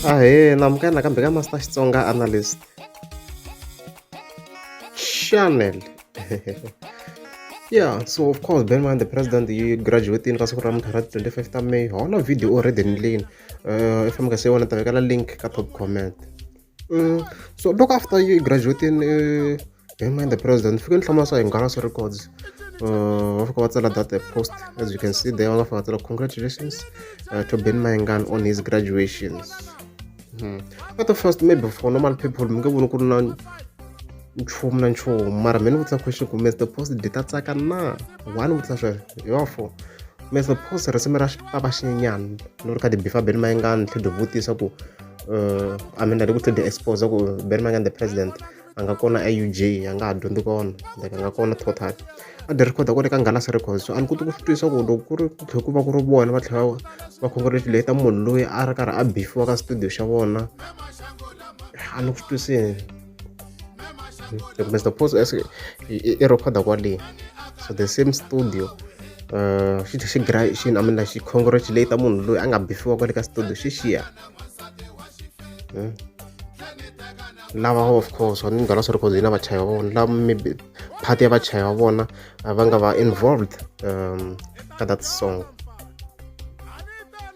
ahee namukela nakambe ka master xitsonga analyst channel yeah so of course ben man the president yi graduatini ka siku ra muthu ra 25 ta may hona video already ni leni um i fambaka se wona ta vekela link ka top comment Mm, so loko after you graduating uh, am I the president fike ni hlamula swa hingalasa records uh, va fika va tsala that post as you can see there va fika tsala congratulations uh, to ben mayengan on his graduations hmm. at the first maybe for normal people mi nge voni ku ri na nchumu na nchumu mara mi ni vutisa question ku mr post di ta tsaka na wa ni vutisa sweswo hi wa four mr post risimu ra xipapa xinyenyana ni ri ka tibifa ben mayengani tlhe di vutisa ku uh, i mean ari ku tlhela expose ku berry mangani the president a nga kona auj a nga ha dyondzi kona like a nga kona total a dyi recorda kwale ka ngalasi records so a ni koti ku swi twisisa ku loko ku ri ku tlhe ku va ku ri vona va tlhela va congratulata munhu loyi a ri karhi a bifiwa ka studio xa vona a ni ku swi twisini loko mr post i recorda kwale so the same studio uh, xi tlhe xi gra xi namela xi congratulata munhu loyi a nga bifiwa kwale ka studio xi xiya Hmm? lava of course va ni nghana swi ri cause hina vachayi va vona lava maybe part ya vachayi va vona va nga va involved um ka that song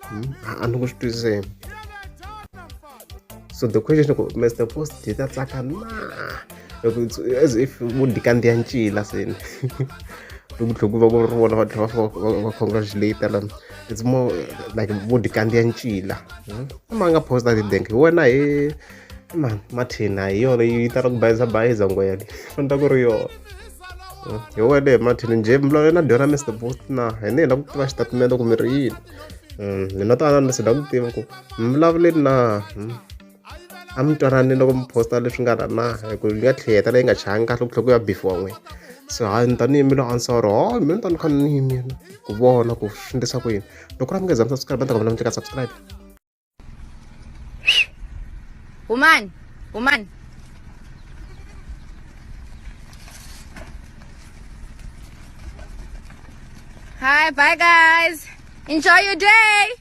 hmm? a ni ku swi twisiseni so the question ku mr post hi ta tsaka na as if vo dikandziya ncila seni loku tlhela ku va ku ri vona va tlhela va congratulate lana it's more like vo ti kandziya ncila hmm? ma nga posta tidenk hi wena hi ma mathina hi yona yi tala ku bayiza bayiza ngwele fana ta ku ri yona hmm? hi wele mathini njhe mlalo yena dyona mr boost na hi ni hi la ku tiva xitatimende ku mi ri yini mina hmm, twanana ni si la ku tiva ku mi vulavuleni na a mi twanani loko mi posta leswi nga la na hi ku yi nga tlhe heta leyi nga changi kahle ku tlhe ku ya bifiwa n'wini so ha ni tanihi mi lo ansoro ho mi ni ta ni kha ni yini yena ku vona ku swi endlisa ku yini loko ra mi nga za mi subscribe ni ta kombela mi tleka subscribe humani humani Hi, bye guys. Enjoy your day.